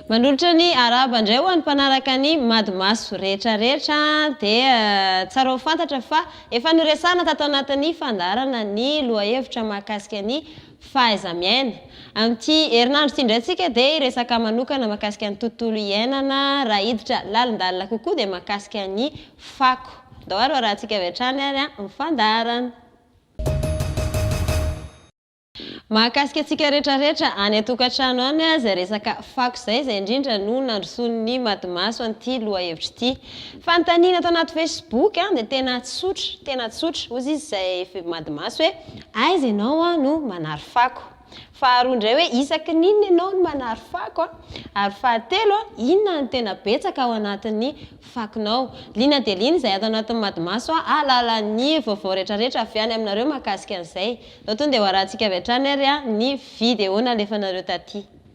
Manolotra ny arahaba indray ho an'ny mpanaraka ny Madimaso rehetra rehetra dia tsara ho fantatra fa efa noresahana tato anatin'ny fandaharana ny lohahevitra mahakasika ny fahaiza-miaina. Amin'ity herinandro ity indray tsika dia hiresaka manokana mahakasika ny tontolo iainana raha hiditra lalindalina kokoa dia mahakasika ny fako. Andao ary ho arahantsika avy hatrany ary ny fandaharana. Mahakasika antsika rehetra rehetra any an-tokantrano any izay resaka fako izay, izay indrindra no nandrosoan'ny matimaso an'ity lohahevitra ity. Fanontaniana ato anaty Facebook dia tena tsotra, tena tsotra. Hozy izy izay madimaso hoe, aiza ianao no manary fako? Faharoa indray hoe, isaky ny inona ianao no manary fako? Ary fahatelo, inona no tena betsaka ao anatin'ny fakonao? Liana dia liana izay ato anatin'ny madimaso hahalala ny vaovao rehetrarehetra avy any aminareo mahakasika an'izay. Izao tonga dia hoarahantsika avy hatrany ary ny video nalefanareo taty.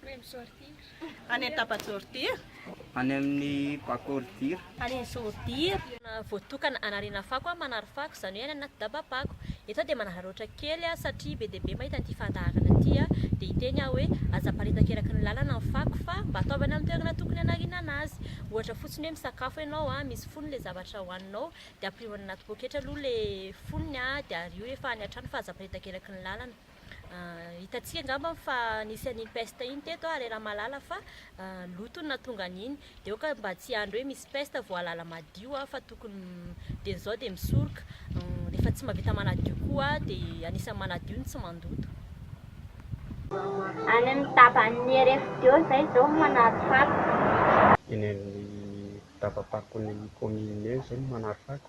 Prime sortir. Any amin'ny tapa sortir. Any amin'ny bakôly dir. Any amin'ny sordir. Voatokana hanariana fako an, manary fako, izany hoe any anaty daba-pako. Eto aho dia manararaotra kely an, satria be dia be mahita an'ity fandaharana ity an, dia hiteny aho hoe, aza aparitaka eraky ny lalana ny fako fa mba ataovy any amin'ny toerana tokony hanarianana azy. Ohatra fotsiny hoe misakafo ianao an, misy fonony ilay zavatra hohaninao, dia ampirimo any anaty poketra aloha ilay fonony an, dia ario rehefa any an-trano fa aza aparitaka eraky ny lalana. Hitantsika angamba fa nisy an'iny peste iny teto ary raha malala fa loto ny nahatonga an'iny dia aoka mba tsy handry hoe misy peste vao halala madio fa tokony dia izao dia misoroka rehefa tsy mahavita manadio koa dia anisan'ny manadio ny tsy mandoto any amin'ny daban'ny RFDO izay izao no manary fako. Eny amin'ny daba-pakon'ny kaominina eny izao no manary fako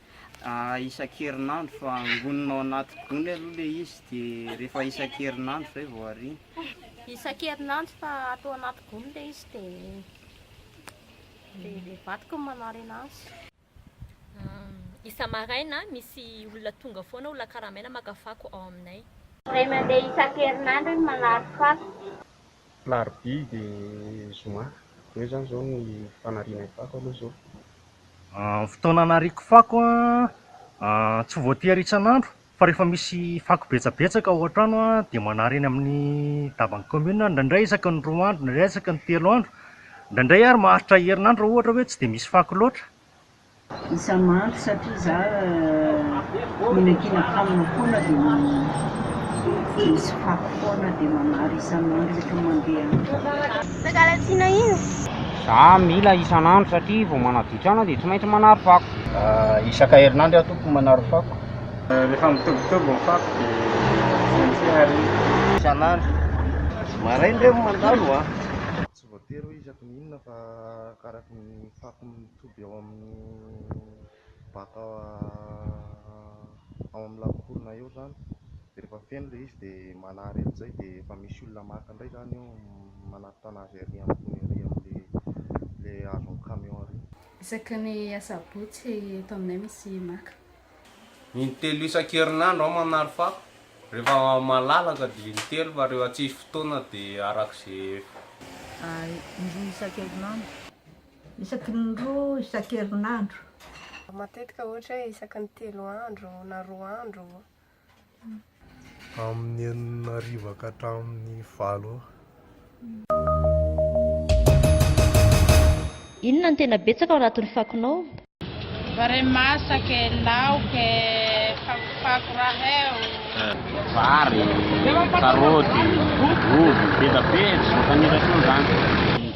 isan-kerinandro fa angonina ao anaty gony aloha ilay izy dia rehefa isan-kerinandro izay vao ariana. Isan-kerinandro fa ato anaty gony ilay izy dia dia vadiko no manarina azy. Isa-maraina misy olona tonga foana, olona karamaina maka fako ao aminay. Indray mandeha isan-kerinandro iny manary fako. Alarobia dia zoma. Eo izany izao ny fanariana ny fako aloha izao. Ny fotoana anariako fako an, tsy voatery isan'andro fa rehefa misy fako betsabetsaka ao an-trano an, dia manary eny amin'ny daban'ny commune aho, indraindray isaky ny roa andro, indraindray isaky ny telo andro, indraindray ary maharitra herinandro raha ohatra hoe tsy dia misy fako loatra. Isan'andro satria za mihinan-kinan kanina foana dia misy fako foana dia manary isan'andro rehefa mandeha any. Mangalatsiana iny. Za mila isan'andro satria vao manaditra aina dia tsy maintsy manary fako. Isaka herinandro aho tompoko manary fako. Rehefa mitobitoby ny fako dia tsy maintsy hariana. Isan'andro. Maraina re mandalo a. Tsy voatery hoe isaky ny inona fa arakaraky ny fako mitoby ao amin'ny baka ao amin'ny lakoronay ao izany dia rehefa feno ilay izy dia manary an'izay dia efa misy olona maka indray izany eo manatitra an'azy ery ambony ery amin'ilay ilay azon'ny camion ery. Isaky ny asabotsy eto aminay misy maka. Intelo isan-kerinandro aho manary fako, rehefa malalaka dia intelo fa rehefa tsisy fotoana dia araka izay. Indroa isan-kerinandro. Isaky ny indroa isan-kerinandro. Matetika ohatra hoe isaky ny telo andro na roa andro. amin'ny enina hariva ka hatramin'ny valo eo. Inona no tena betsaka ao anatin'ny fakonao? Vary masaka e, laoka e, fakofako raha eo. Vary, karaoty, ovy, voatabia, zao tanora io izany.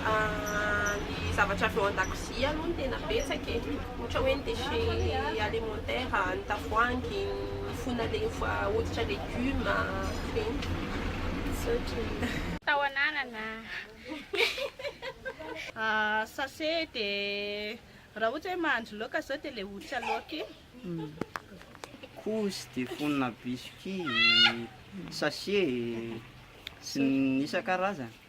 Ny zavatra avy ao an-dakozia aloha no tena betsaka e, ohatra hoe ny déchets alimentaires, ny tavoahangy, ny fona le efa hoditra legioma, ireny. Misaotra e. Tao ananana a. Sachet de raha ohatra hoe mahandro laoka zao de le hoditra laoka iny. Couche de fonona biscuits, sachet e, sy ny isan-karazany.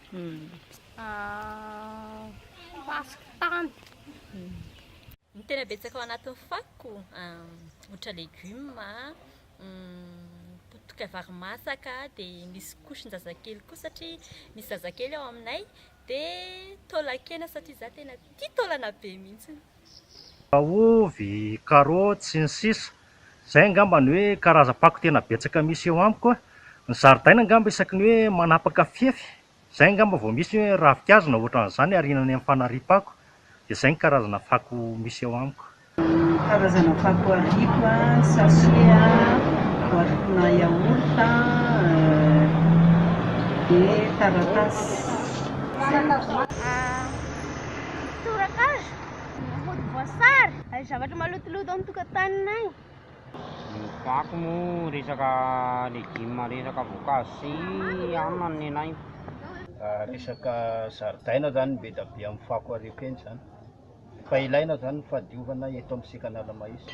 Ny tena betsaka ao anatin'ny fakoko, ohatra legioma, potika vary masaka, dia misy couche-njazakely koa satria misy zazakely ao aminay, dia taolan-kena satria izaho tena tia taolana be mihitsy. Ravina ovy, karaoty, sy ny sisa Izay angamba ny hoe karazam-pako tena betsaka misy eo amiko a! Ny zaridaina angamba isaky ny hoe manapaka fefy, izay angamba vao misy hoe ravinkazo na ohatran'izany aoriana ny amin'ny fanariam-pako, dia izay ny karazana fako misy eo amiko. Ny karazana fako ariako a, sachet a, boatinà yaourt a, dia taratasy. Izay. Tsorakazo, ny hodi-boasary, ary ny zavatra malotoloto ao an-tokantanonay. Ny fako moa resaka legioma, resaka voankazo sy hanina no nenahiko. Raha resaka zaridaina izany no be dia be amin'ny fako ary ekeny izany. Fa ilaina izany ny fahadiovana eto amin'ny sekan'Ala-mahitsy.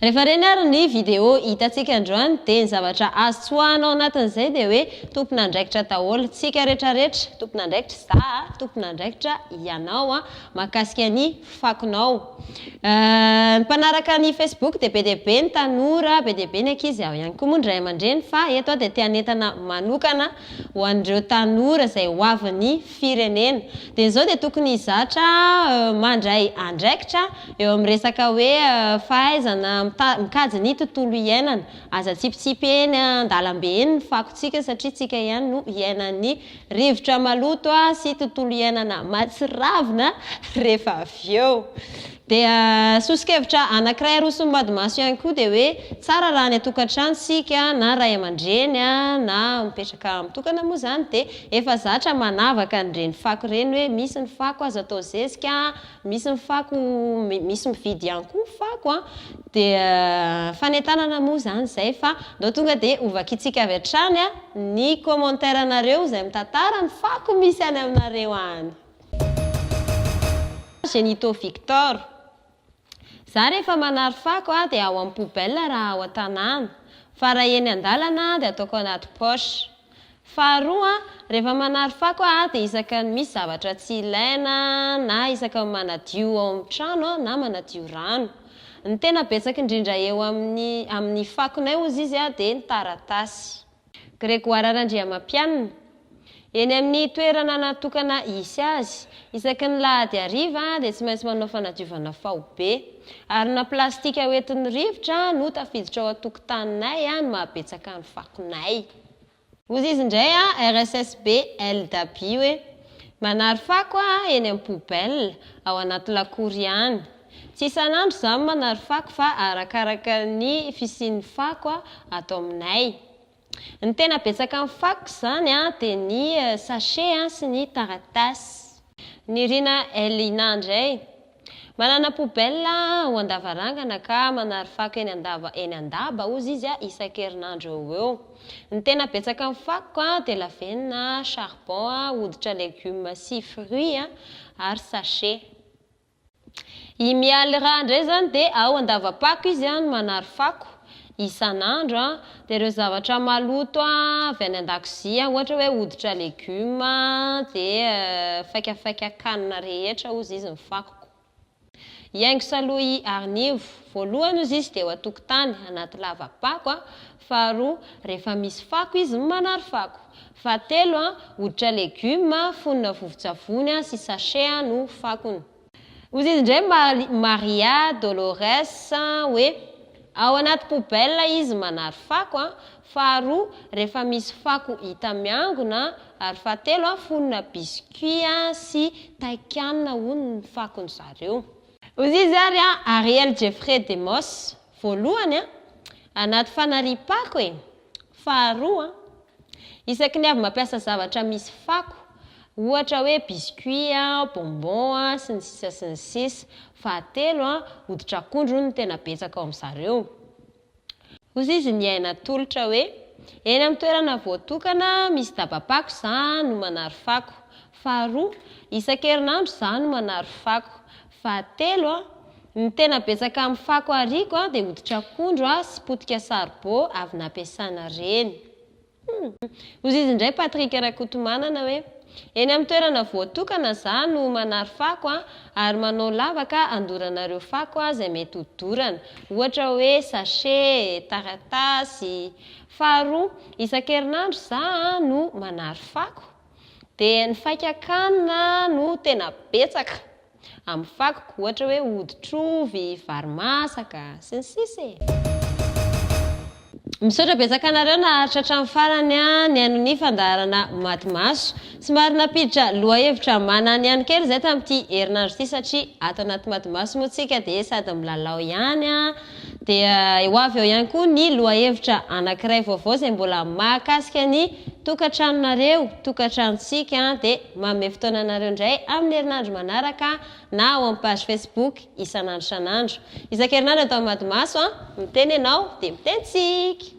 Rehefa reny ary ny video hitantsika androany dia ny zavatra azo tsoahana ao anatin'izay dia hoe tompon'andraikitra daholo tsika retraretra, tompon'andraikitra za a, tompon'andraikitra ianao a, mahakasika ny fakonao. Ny mpanaraka ny facebook dia be dia be ny tanora, be dia be ny ankizy, ao ihany koa moa ny ray aman-dreny fa eto aho dia te hanentana manokana ho an'ireo tanora izay hoavin'ny firenena dia izao dia tokony hizatra mandray andraikitra eo amin'ny resaka hoe fahaizana mikajy ny tontolo iainana. Aza atsipitsipy eny an-dalambe eny ny fakontsika satria tsika ihany no hiainan'ny rivotra maloto sy tontolo iainana matsiravina rehefa avy eo. Dia soso-kevitra anankiray aroson'bady maso ihany koa dia hoe tsara raha any an-tokantrano isika na ray aman-dreny na mipetraka mitokana moa izany dia efa zatra manavaka an'ireny fako ireny hoe misy ny fako azo atao zezika, misy ny fako misy mividy ihany koa ny fako an, dia fanentanana moa izany izay fa ndao tonga dia hovakintsika avy hatrany ny commentaire anareo izay mitantara ny fako misy any aminareo any. Genito Victor, Za rehefa manary fako aho dia ao amin'ny poubelle raha ao an-tanàna, fa raha eny an-dalana dia ataoko anaty poche. Faharoa, rehefa manary fako aho dia isaka ny misy zavatra tsy ilaina na isaka ny manadio ao amin'ny trano na manadio rano. Ny tena betsaka indrindra eo amin'ny amin'ny fakonay ozy izy dia ny taratasy. Grégoire Randriamampianina, eny amin'ny toerana natokana hisy azy. Isaky ny lahady hariva dia tsy maintsy manao fanadiovana faobe. Harona plastika hoentin'ny rivotra no tafiditra ao an-tokotaninay no mahabetsaka ny fakonay. Hoy izy indray, RSSBL Dabi hoe, Manary fako aho eny amin'ny poubelle, ao anaty lakour ihany. Tsy isan'andro izaho no manary fako fa arakaraka ny fisian'ny fako ato aminay. Ny tena betsaka amin'ny fakoko izany dia ny sachet sy ny taratasy. Nirina Elina indray, Manana poubelle aho an-davarangana ka manary fako eny an-dava eny an-daba hozy izy isan-kerinandro eo ho eo. Ny tena betsaka amin'ny fakoko dia lavenona, charbon, hoditra legumes sy fruits ary sachet. I Mialy Ra indray izany dia ao Andavapako izy no manary fako isan'andro. Dia ireo zavatra maloto avy any an-dakozia, ohatra hoe hoditra legioma dia faikafaika kanina rehetra hozy izy ny fakoko. I Haingosa aloha i Arinivo, voalohany hozy izy dia eo an-tokotany anaty lava-pako, faharoa rehefa misy fako izy no manary fako. Fahatelo, hoditra legioma fonona vovon-tsavony sy sachet no fakony. Hoy izy indray Maria Dolores hoe, Ao anaty poubelle izy manary fako, faharoa, rehefa misy fako hita miangona, ary fahatelo, fonona biscuit sy taikanina hono ny fakon'i zareo. Hoy izy ary Ariel Jeffrey Demos, Voalohany, anaty fanariam-pako e! Faharoa, isaky ny avy mampiasa zavatra misy fako, ohatra hoe biscuit, bonbon, sy ny sisa sy ny sisa. Fahatelo, hoditr'akondro no tena betsaka ao amin-drzareo. Hozy izy niaina atolotra hoe, Eny amin'ny toerana voatokana misy daba-pako izaho no manary fako. Faharoa, isan-kerinandro izaho no manary fako. Fahatelo, Ny tena betsaka amin'ny fako ariako dia hoditr'akondro sy potika saribô avy nampiasana reny. Hum. Hozy izy indray Patrick Rakotomanana hoe, Eny amin'ny toerana voatokana za no manary fako ary manao lavaka andoranareo fako izay mety ho dorana, ohatra hoe sachet, taratasy. Faharoa, isan-kerinandro za no manary fako. Dia ny faikak'anona no tena betsaka. Amin'ny fakiko, ohatra hoe hoditr'ovy, vary masaka, sy ny sisa e. Misaotra betsaka anareo naharitra hatramin'ny farany nihaino ny fandaharana Maty Maso. Somary nampiditra lohahevitra mananihany kely izahay tamin'ity herinandro ity satria ato anaty Maty Maso moa isika dia sady milalao ihany, Dia ho avy eo ihany koa ny lohahevitra anankiray vaovao izay mbola mahakasika ny tokantranonareo, tokantranontsika, dia manome fotoana anareo indray amin'ny herinandro manaraka na ao amin'ny page Facebook isan'andro isan'andro. Isan-kerinandro eto amin'ny Madimaso an! Miteny ianao dia miteny tsika!